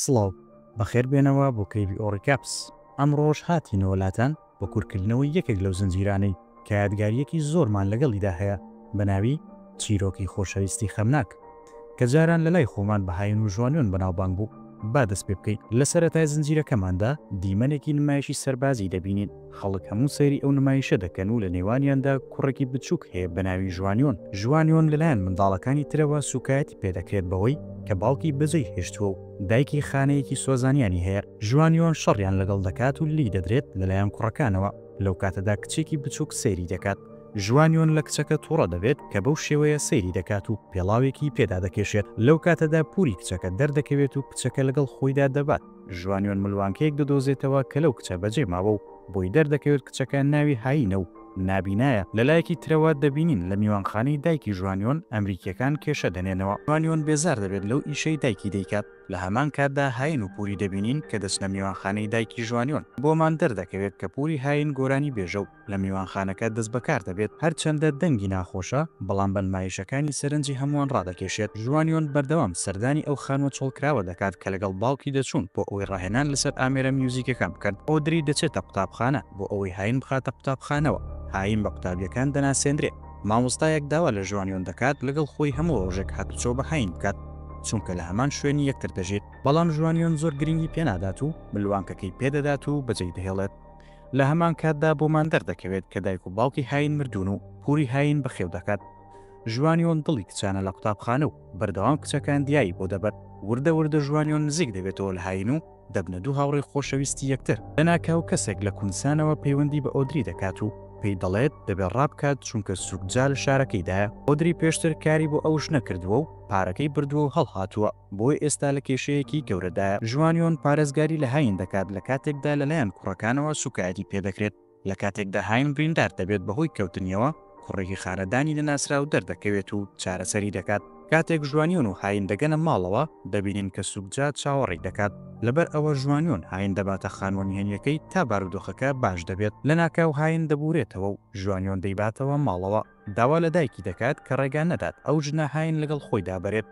سڵاو، بەخێر بێنەوە بۆ کەیڤی ئۆڕیکاپس. ئەمڕۆش هاتینەوە لاتان بۆ کورتکردنەوەی یەکێک لەو زنجیرانەی کە یادگارییەکی زۆرمان لەگەڵیدا هەیە بە ناوی، چیرۆکی خۆشەویستی خەمناک، کە جاران لەلای خۆمان بە هایون و ژوانیۆن بەناوبانگ بوو. با دەست پێ بکەین. لە سەرەتای زنجیرەکەماندا دیمەنێکی نمایشی سەربازی دەبینین. خەڵک هەموو سەیری ئەو نمایشە دەکەن و لە نێوانیاندا کوڕێکی بچووک هەیە بە ناوی ژوانیۆن. ژوانیۆن لەلایەن منداڵەکانی ترەوە سووکایەتی پێ دەکرێت بەوەی کە باوکی بەجێی هێشتووە و دایکی خانەیەکی سۆزانیانی هەیە. ژوانیۆن شەڕیان لەگەڵ دەکات و لێی دەدرێت لەلایەن کوڕەکانەوە. لەو کاتەدا کچێکی بچووک سەیری دەکات. ژوانیۆن لە کچەکە تووڕە دەبێت کە بەو شێوەیە سەیری دەکات و پێڵاوێکی پێدا دەکێشێت. لەو کاتەدا پووری کچەکە دەردەکەوێت و کچەکە لەگەڵ خۆیدا دەبات. ژوانیۆن ملوانکەیەک دەدۆزێتەوە کە لەو کچە بەجێ ماوە و بۆی دەردەکەوێت کچەکە ناوی هایینە و نابینایە، لە لایەکی ترەوە دەبینین لە میوانخانەی دایکی ژوانیۆن ئەمریکییەکان کێشە دەنێنەوە، ژوانیۆن بێزار دەبێت لەو ئیشەی دایکی دەیکات، لە هەمان کاتدا هایین و پوری دەبینین کە دەچنە میوانخانەی دایکی ژوانیۆن، بۆمان دەردەکەوێت کە پوری هایین گۆرانیبێژە و لە میوانخانەکە دەست بەکار دەبێت، هەرچەندە دەنگی ناخۆشە، بەڵام بە نمایشەکانی سەرنجی هەمووان ڕادەکێشێت، ژوانیۆن بەردەوام سەردانی ئەو خانووە چۆڵکراوە دەکات کە لەگەڵ باوکی دەچوون، بۆ ئەوەی ڕاهێنان لەسەر ئامێرە میوزیکەکان بکەن، ئۆدری دەچێتە قوتابخانە بۆ ئەوەی هاین بخاتە قوتابخانەوە، هاین بە قوتابییەکان دەناسێندرێت، مامۆستایەک داوا لە ژوانیۆن دەکات لەگەڵ خۆی هەموو ڕۆژێک هاتوچۆ بە هاین بکات، چونکە لە هەمان شوێنی یەکتر دەژین، بەڵام ژوانیۆن زۆر گرنگی پێنادات و ملوانکەکەی پێدەدات و بەجێیدەهێڵێت. لە هەمان کاتدا بۆمان دەردەکەوێت کە دایک و باوکی هاین مردوون و پوری هاین بەخێو دەکات. ژوانیۆن دڵی کچانە لە قوتابخانە و بەردەوام کچەکان دیایی بۆ دەبەن. وردە وردە ژوانیۆن نزیک دەبێتەوە لە هاین و دەبنە دوو هاوڕێی خۆشەویستی یەکتر. لەناکاو کەسێک لە کونسانەوە پەیوەندی بە ئۆدری دەکات و پێی دەڵێت دەبێت ڕابکات چونکە سووکجا لە شارەکەیدایە. ئۆدری پێشتر کاری بۆ ئەو ژنە کردووە و پارەکەی بردووە و هەڵهاتووە. بۆیە ئێستا لە کێشەیەکی گەورەدایە. ژوانیۆن پارێزگاری لە هاین دەکات لە کاتێکدا لەلایەن کوڕەکانەوە سووکایەتی پێ دەکرێت. لە کاتێکدا هاین بریندار دەبێت بەهۆی کەوتنیەوە، کوڕێکی خانەدانی نەناسراو دەردەکەوێت و چارەسەری دەکات. کاتێک ژوانیۆن و هاین دەگەنە ماڵەوە، دەبینن کە سووکجا چاوەڕێی دەکات. لەبەر ئەوە ژوانیۆن هاین دەباتە خانووە نهێنییەکەی تا بارودۆخەکە باش دەبێت. لەناکاو هاین دەبوورێتەوە و ژوانیۆن دەیباتەوە ماڵەوە. داوا لە دایکی دەکات کە ڕێگا نەدات ئەو ژنە هاین لەگەڵ خۆیدا بەرێت.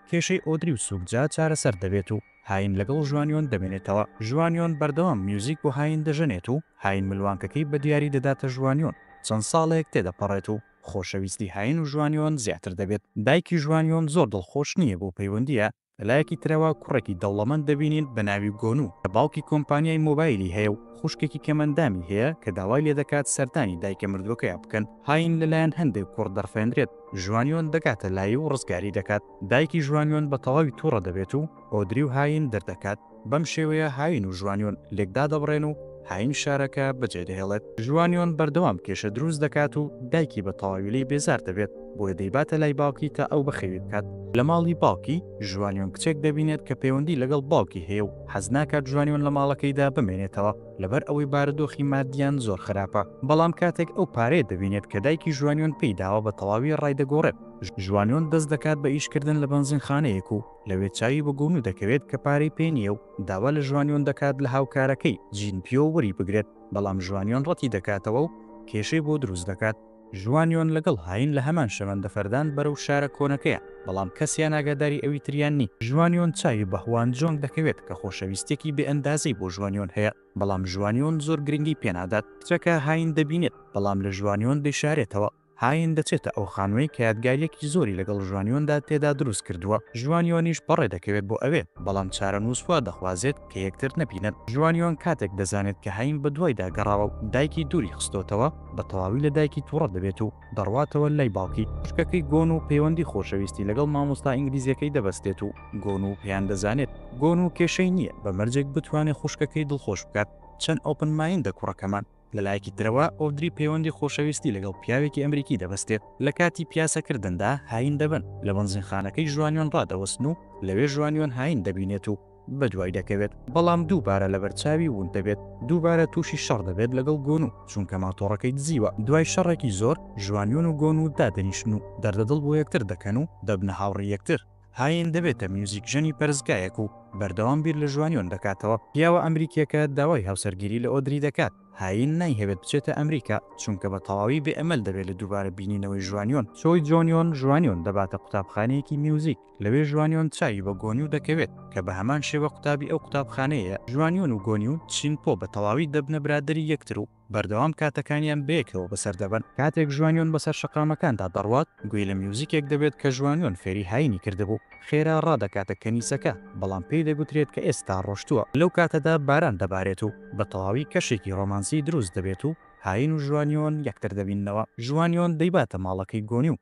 کێشەی ئۆدری و سووک جا چارەسەر دەبێت و هاین لەگەڵ ژوانیۆن دەمێنێتەوە. ژوانیۆن بەردەوام میوزیک بۆ هاین دەژەنێت و هاین ملوانکەکەی بە دیاری دەداتە ژوانیۆن. چەند ساڵێک تێدەپەڕێت و خۆشەویستی هاین و ژوانیۆن زیاتر دەبێت. دایکی ژوانیۆن زۆر دڵخۆش نییە بۆ پەیوەندییە لە لایەکی ترەوە کوڕێکی دەوڵەمەند دەبینین بە ناوی گۆنو کە باوکی کۆمپانیای مۆبایلی هەیە و خوشکێکی کەمئەندامی هەیە کە داوای لێ دەکات سەردانی دایکە مردووەکەیا بکەن. هاین لە لایەن هەندێک کوڕ دەڕفێندرێت، ژوانیۆن دەگاتە لایی و ڕزگاری دەکات. دایکی ژوانیۆن بە تەواوی توڕە دەبێت و ئۆدری و هاین دەردەکات. بەم شێوەیە هاوین و ژوانیۆن لێک دادەبڕێن و هاوین شارەکە بەجێدەهێڵێت. ژوانیۆن بەردەوام کێشە دروست دەکات و دایکی بە تەواوی لێی بێزار دەبێت، بۆیە دەیباتە لای باوکی تا ئەو بەخێوی بکات. لە ماڵی باوکی، ژوانیۆن کچێک دەبینێت کە پەیوەندی لەگەڵ باوکی هەیە و حەز ناکات ژوانیۆن لە ماڵەکەیدا بمێنێتەوە، لەبەر ئەوەی بارودۆخی ماددییان زۆر خراپە. بەڵام کاتێک ئەو پارەیە دەبینێت کە دایکی ژوانیۆن پێی داوە بە تەواوی ڕایدەگۆڕێت. ژوانیۆن دەست دەکات بە ئیشکردن لە بەنزینخانەیەک و لەوێ چاوی بە گۆنو دەکەوێت کە پارەی پێ نییە و داوا لە ژوانیۆن دەکات لە هاوکارەکەی، جین پیۆ، وەریبگرێت، بەڵام ژوانیۆن ڕەتی دەکاتەوە و کێشەی بۆ دروست دەکات. ژوانیۆن لەگەڵ هاین لە هەمان شەمەندەفەردان بەرەو شارە کۆنەکەیان، بەڵام کەسیان ئاگاداری ئەوی تریان نین. ژوانیۆن چاوی بە هوان جۆنگ دەکەوێت کە خۆشەویستییەکی بێ ئەندازەی بۆ ژوانیۆن هەیە، بەڵام ژوانیۆن زۆر گرنگی پێنادات. کچەکە هاین دەبینێت، بەڵام لە ژوانیۆن دەیشارێتەوە. هاین دەچێتە ئەو خانوەی کە یادگاریەکی زۆری لەگەڵ ژوانیۆندا تێدا دروست کردووە، ژوانیۆنیش بەڕێ دەکەوێت بۆ ئەوێ، بەڵام چارەنووس وا دەخوازێت کە یەکتر نەبینن. ژوانیۆن کاتێک دەزانێت کە هاین بەدوایدا گەڕاوە و دایکی دووری خستۆتەوە، بە تەواوی لە دایکی توڕە دەبێت و دەڕواتەوە لای باوکی. خوشکەکەی گۆنو پەیوەندی خۆشەویستی لەگەڵ مامۆستا ئینگلیزیەکەی دەبەستێت و گۆنو پێیان دەزانێت. گۆنو کێشەی نییە بە مەرجێک بتوانێت خوشکەکەی دڵخۆش بکات. چەند ئۆپن مایندە کوڕەکەمان. لەلایەکی ترەوە ئۆدری پەیوەندی خۆشەویستی لەگەڵ پیاوێکی ئەمریکی دەبەستێت، لە کاتی پیاسەکردندا هاین دەبن، لە بەنزینخانەکەی ژوانیۆن ڕادەوەستن و لەوێ ژوانیۆن هاین دەبینێت و بەدوای دەکەوێت، بەڵام دووبارە لەبەرچاوی وون دەبێت، دووبارە تووشی شەڕ دەبێت لەگەڵ گۆنو، چونکە ماتۆڕەکەی دزیوە، دوای شەڕێکی زۆر ژوانیۆن و گۆنو دادەنیشن و دەردەدڵ بۆ یەکتر دەکەن و دەبنە هاوڕێی یەکتر. هاین دەبێتە میوزیکژەنی پەرستگایەک و بەردەوام بیر لە ژوانیۆن دەکاتەوە. پیاوە ئەمریکییەکە داوای هاوسەرگیری لە ئۆدری دەکات. هاین نایهەوێت بچێتە ئەمریکا، چونکە بە تەواوی بێ ئەمەل دەبێت لە دووبارە بینینەوەی ژوانیۆن. چۆی جۆنیۆن ژوانیۆن دەباتە قوتابخانەیەکی میوزیک، لەوێ ژوانیۆن چاوی بە گۆنیو دەکەوێت، کە بە هەمان شێوە قوتابی ئەو قوتابخانەیەیە. ژوانیۆن و گۆنیو چین پۆ بە تەواوی دەبنە برادەری یەکتر و بەردەوام کاتەکانیان بەیەکەوە بەسەر دەبەن. کاتێک ژوانیۆن بەسەر شەقامەکاندا دەڕوات، گوێی لە میوزیکێک دەبێت کە ژوانیۆن فێری هایینی کردبوو. خێرا ڕادەکاتە کەنیسەکە، بەڵام پێی دەگوترێت کە ئێستا ڕۆشتووە. لەو کاتەدا باران دەبارێت و بە تەواوی کەشێکی ڕۆمانسی دروست دەبێت و هایین و ژوانیۆن یەکتر دەبیننەوە. ژوانیۆن دەیباتە ماڵەکەی گۆنی و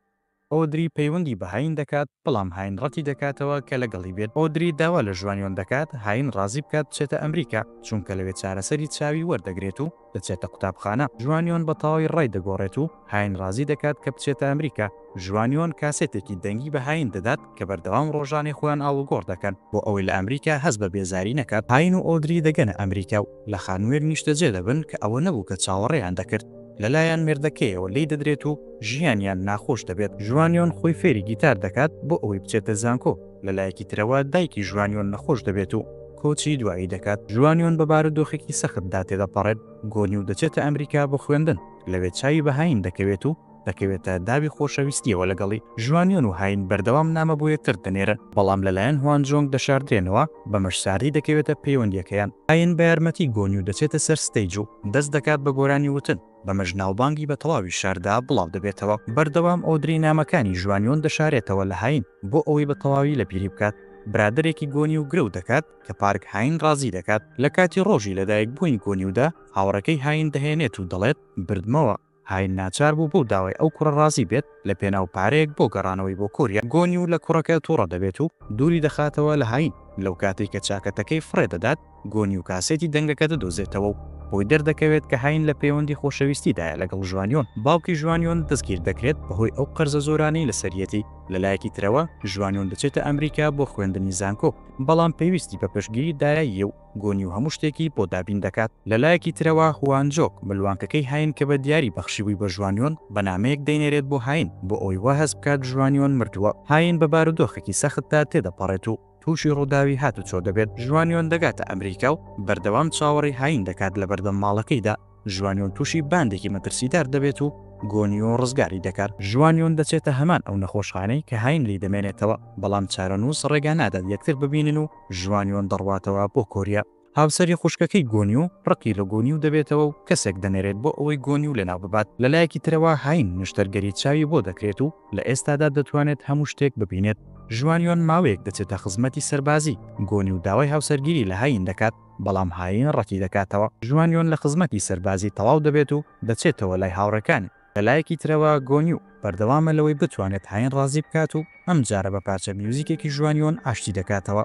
ئۆدری پەیوەندی بە هاین دەکات، بەڵام هاین ڕەتی دەکاتەوە کە لەگەڵی بێت. ئۆدری داوا لە ژوانیۆن دەکات هاین ڕازی بکات بچێتە ئەمریکا، چونکە لەوێ چارەسەری چاوی وەردەگرێت و دەچێتە قوتابخانە. ژوانیۆن بە تەواوی ڕای دەگۆڕێت و هاین ڕازی دەکات کە بچێتە ئەمریکا. ژوانیۆن کاسێتێکی دەنگی بە هاین دەدات کە بەردەوام ڕۆژانەی خۆیان ئاڵوگۆڕ دەکەن بۆ ئەوەی لە ئەمریکا هەست بە بێزاری نەکات. هاین و ئۆدری دەگەنە ئەمریکا و لە خانوویەک نیشتەجێ دەبن کە ئەوە نەبوو کە چاوەڕێیان دەکرد، لەلایان مێردەکەیەوە لێی دەدرێت و ژیانیان ناخۆش دەبێت. ژوانیۆن خۆی فێری گیتار دەکات بۆ ئەوەی بچێتە زانکۆ، لە لایەکی ترەوە دایکی ژوانیۆن نەخۆش دەبێت و کۆچی دوایی دەکات. ژوانیۆن بە بارودۆخێکی سەختدا تێدەپەڕێت، گۆنی و دەچێتە ئەمریکا بۆ خوێندن، لەوێ چاوی بە هاین دەکەوێت و دەکەوێتە داوی خۆشەویستیەوە لەگەڵی، ژوانیۆن و هاین بەردەوام نامە بۆ یەکتر دەنێرن، بەڵام لەلایەن هوانجۆنگ دەشاردرێنەوە، بەمەش ساردی دەکەوێتە پەیوەندیەکەیان، هاین بە یارمەتی گۆنیو دەچێتە سەر ستەیج و دەست دەکات بە گۆرانی وتن، بەمەش ناوبانگی بە تەواوی شاردا بڵاو دەبێتەوە، بەردەوام ئۆدری نامەکانی ژوانیۆن دەشارێتەوە لە هاین، بۆ ئەوەی بە تەواوی لەبیری بکات، برادەرێکی گۆنیو گرەو دەکات، کە پارک هاین ڕازی دەکات، لە کاتی ڕۆژی لەدایک بوونی گۆنیودا هاوڕێکەی هاین دەهێنێت و دەڵێت بردمەوە، هاین ناچار بوو بەو داوای ئەو کوڕە ڕازی بێت لە پێناو پارەیەک بۆ گەڕانەوەی بۆ کۆریا. گۆنیو لە کوڕەکە توڕە دەبێت و دووری دەخاتەوە لە هاین. لەو کاتەی کە چاکەتەکەی فڕێ دەدات، گۆنیو کاسێتی دەنگەکە دەدۆزێتەوە و بۆی دەردەکەوێت کە هاین لە پەیوەندی خۆشەویستیدایە لەگەڵ ژوانیۆن. باوکی ژوانیۆن دەستگیر دەکرێت بەهۆی ئەو قەرزە زۆرانەی لەسەریەتی. لە لایەکی ترەوە ژوانیۆن دەچێتە ئەمریکا بۆ خوێندنی زانکۆ، بەڵام پێویستی بە پشتگیری دایە ی و گۆنی و هەموو شتێکی بۆ دابین دەکات. لە لایەکی ترەوە هوان جۆک ملوانکەکەی هاین کە بە دیاری بەخشیبووی بە ژوانیۆن بە نامەیەک دەینێرێت بۆ هاین بۆ ئەوەی وا هەست بکات ژوانیۆن مردووە. هاین بە بارودۆخێکی سەختدا تێدەپەڕێت و تووشی ڕووداوی هاتوچۆ دەبێت. ژوانیۆن دەگاتە ئەمریکا و بەردەوام چاوەڕێی هاین دەکات لە بەردەم ماڵەکەیدا. ژوانیۆن تووشی باندێکی مەترسیدار دەبێت و گۆنیۆ ڕزگاری دەکات. ژوانیۆن دەچێتە هەمان ئەو نەخۆشخانەی کە هاین لی دەمێنێتەوە، بەڵام چارەنووس ڕێگا نادات یەکتر ببینن و ژوانیۆن دەڕواتەوە بۆ کۆریا. هاوسەری خوشکەکەی گۆنیۆ ڕقی لە گۆنیو دەبێتەوە و کەسێک دەنێرێت بۆ ئەوەی گۆنیو لەناو ببات. لە لایەکی ترەوە هاین نەشتەرگەری چاوی بۆ دەکرێت و لە ئێستادا دەتوانێت هەموو شتێک ببینێت. ژوانیۆن ماوەیەک دەچێتە خزمەتی سەربازی، گۆنیو داوای هاوسەرگیری لە هاین دەکات، بەڵام هایین ڕەتیدەکاتەوە. ژوانیۆن لە خزمەتی سەربازی تەواو دەبێت و دەچێتەوە لای هاوڕێکانی. لەلایەکی ترەوە گۆن یو بەردەوامە لەوەی بتوانێت هایین ڕازی بکات و ئەمجارە بە پارچە میوزیکێکی ژوانیۆن ئاشتی دەکاتەوە.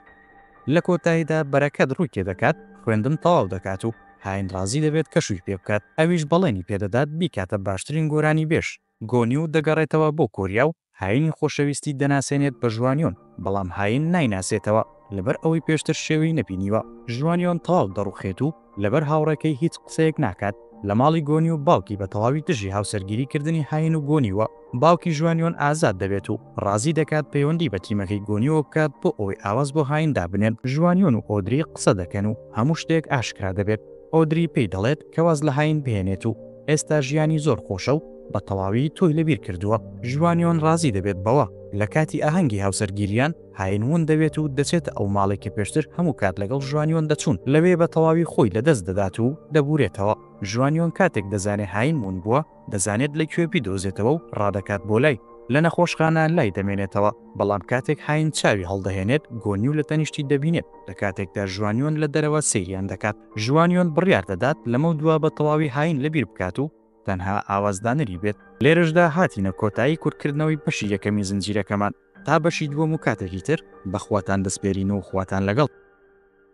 لە کۆتاییدا بەرەکەت ڕووی تێدەکات، خوێندن تەواو دەکات و هایین ڕازی دەبێت کەشووی پێبکات، ئەویش بەڵێنی پێدەدات بیکاتە باشترین گۆرانیبێژ. گۆنیو دەگەڕێتەوە بۆ کۆریا و هاینی خۆشەویستی دەناسێنێت بە ژوانیۆن، بەڵام هاین نایناسێتەوە لەبەر ئەوەی پێشتر شێوی نەبینیوە. ژوانیۆن تەواو دەڕوخێت و لەبەر هاوڕێکەی هیچ قسەیەک ناکات. لە ماڵی گۆنیو باوکی بە تەواوی دژی هاوسەرگیریکردنی هاین و گۆنیوە. باوکی ژوانیۆن ئازاد دەبێت و ڕازی دەکات پەیوەندی بە تیمەکەی گۆنیوەوە بکات بۆ ئەوەی ئاواز بۆ هاین دابنێن. ژوانیۆن و ئۆدری قسە دەکەن و هەموو شتێک ئاشکرا دەبێت. ئۆدری پێی دەڵێت کە واز لە هاین بهێنێت و ئێستا ژیانی زۆر خۆشە و بە تەواوی تۆی لە بیر کردووە. ژوانیۆن ڕازی دەبێت بەوە، لە کاتی ئاهەنگی هاوسەرگیریان، هاین ون دەبێت و دەچێتە ئەو ماڵەی کە پێشتر هەموو کات لەگەڵ ژوانیۆن دەچوون، لەوێ بە تەواوی خۆی لە دەست دەدات و دەبورێتەوە. ژوانیۆن کاتێک دەزانێت هاین ون بووە، دەزانێت لە کوێ بیدۆزێتەوە و ڕادەکات بۆ لای، لە نەخۆشخانە لای دەمێنێتەوە، بەڵام کاتێک هاین چاوی هەڵدەهێنێت گۆنیو لە تەنیشتی دەبینێت، لە کاتێکدا ژوانیۆن لە دەرەوە سەیریان دەکات، ژوانیۆن بڕیار دەدات لەمەودوا بە تەواوی هاین لەبیر بکات و تەنها ئاوازدانەری بێت. لێرەشدا هاتینە کۆتایی کورتکردنەوەی بەشی یەکەمی زنجیرەکەمان، تا بەشی دووەم و کاتێکی تر بە خواتان دەسپێرین و خواتان لەگەڵ.